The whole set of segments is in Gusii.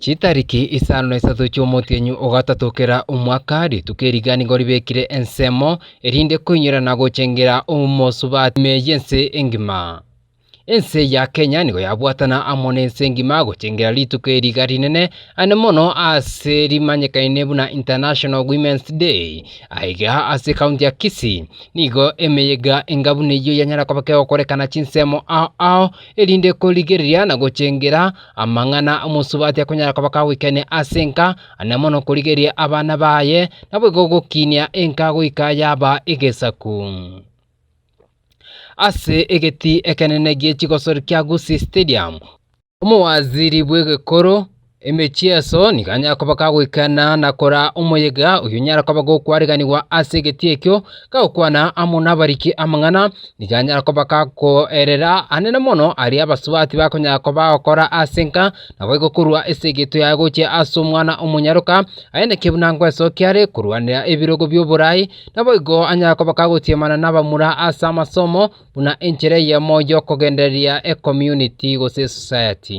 Chitariki isano na isato chi'omotienyi o gatato kera omwaka, rituko eriga nigo ribekire ensemo, erinde koinyora na gochengera omosubati ime y'ense engima. Ense ya Kenya nigo yabwatana amo nense engima gochengera rituko eri riga rinene, aande mono ase rimanyekane buna International Women's Day. Aiga ase county ya Kisii, nigo emeyega enga buna eyio yanyara koba kegokorekana chinsemo ao ao, erinde korigereria na gochengera Amang'ana omosubati akonyara koba kagoikania ase enka, aria mono korigereria abana baye, naboigo gokinia enka goika yaba egesaku. Ase egetii ekenene gie chigosori kia Gusii Stadium, omowaziri bw'egekoro, emechieso, nigo anyare koba kagoikana na koraa omoyega oyio onyare koba gokwareganigwa ase egetii ekio, Gagokwana amo nabariki amang'ana, nigo anyare koba gakoerera anene mono aria abasubati bakonyara koba bagokora ase enka, naboigo korua ase egeto yaye gochia ase omwana omonyaroka, aye naki buna ngwesoki are korwanera ebirogo bi'oboraai, naboigo anyare koba gagosiemana nabamura ase amasomo buna enchera eyemo y'okogendereria ecommunity gose esociety.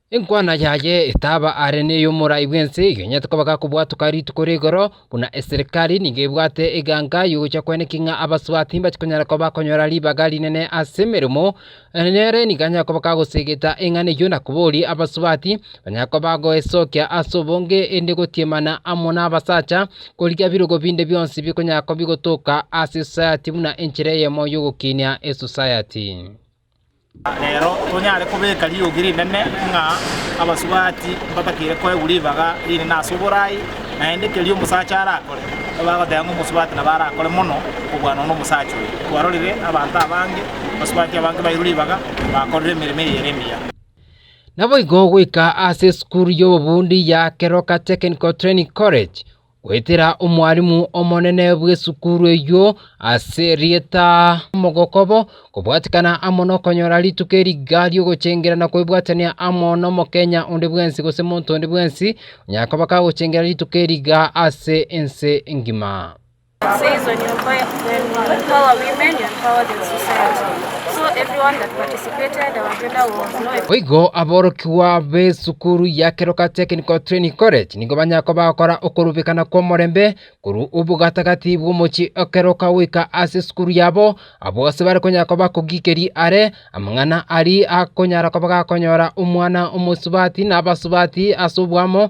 Enkwana yaye etaba are ney'omorai bw'ense igwenyete koba gakobwatoka rituko rigoro, buna eserikari nigo ebwate eganga y'ogocha kwene king'a abasubati mbache konyara koba bakonyora ribaga rinene as'emeremo, nere nigo anyare koba gagosegeta eng'ana eyio na koboria abasubati banyare koba bagoesokia as'obonge ende gotiemana amo nabasacha korigia birogo binde bionsi bikonyara koba bigotoka as'esosayati buna enchera eyemo y'ogokinia esosayati. Rero tonyare kobeka riogi rinene ng'a abasubati mbatakeire koegwa ribaga rinene ase oboraai, naende keria omosacha arakore, nigo bagoteba ng'a omosubati nabo arakore mono kobua nonya nomosacha oyo. Kwarorire abanto abange, abasubati abange bairwe ribaga, bakorire emeremo eye ere emiya. Naboigo goika ase esukuru y'obobundi ya Keroka Technical Training College, Goetera omwarimu omonene bw'esukuru eyio ase erieta omogokobo, kobwatikana amo nokonyora rituko eriga ri'ogochengera na kwebwatania amo n'omokenya onde bwensi gose monto onde bwensi onyare koba kagochengera rituko eriga ase ense engima. Boigo aborokigwa b'esukuru ya Keroka Technical Training College nigo banyare koba bagokora okorubekana kw'omorembe korwa obo gataagati bw'omochie o Keroka goika ase esukuru yabo, abwo gose bare konyara koba bakogiikeria are amang'ana aria akonyara koba gakonyora omwana omosubati na abasubati ase oboamo,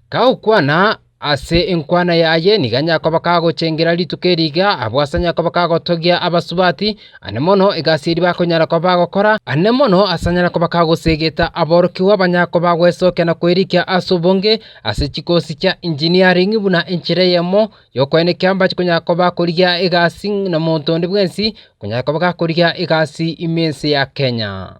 Kagokwana ase enkwana yaye nigo nyakoba kagochengera rituko eri iga, abwo ase nyakoba kagotogia abasubati, aye mono egasi eria bakonyara koba bagokora, aye mono ase anyare koba kagosegeta aborokigwa ba nyakoba gwesokia na kwerikia ase obonge ase chikosi chia engineering buna enchera eyemo y'okoenekia ambache konyara koba akorigia egasi na monto onde bwensi okonyara koba gakorigia egasi ime ense ya Kenya.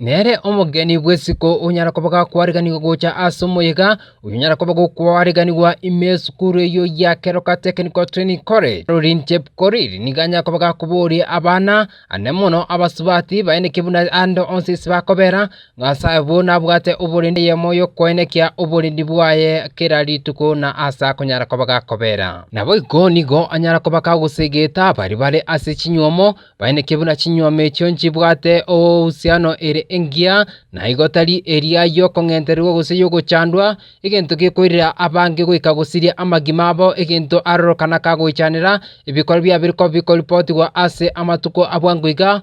Nere omogeni bw'esiko onyara koba gakwaariganigwa gocha ase omoyega, oyio onyara koba gokwaariganigwa ime esukuru eyio ya Keroka Technical Training College. Caroline Chepkorir nigo anyare koba gakobooria abana, ane mono abasubati, baeneke buna ande onsi ase bakobera, ng'a'ase abwo nabwate oborendi eyemo y'okoenekia oborendi bwaye kera rituko na aase akonyara koba gakobera. Naboigo nigo anyara koba gagosegeta baria bare ase chinyuomo, Baineke buna chinyuoma echio nchibwate oousiano ere engiya, na igo tari eria y'okong'entererigwa gose y'ogochandwa, egento gekoirera abange goika gosiria amagima abo egento aroro kana kagoichanera, ebikorwa biabo bire kobikoripotigwa ase amatuko a bwango iga,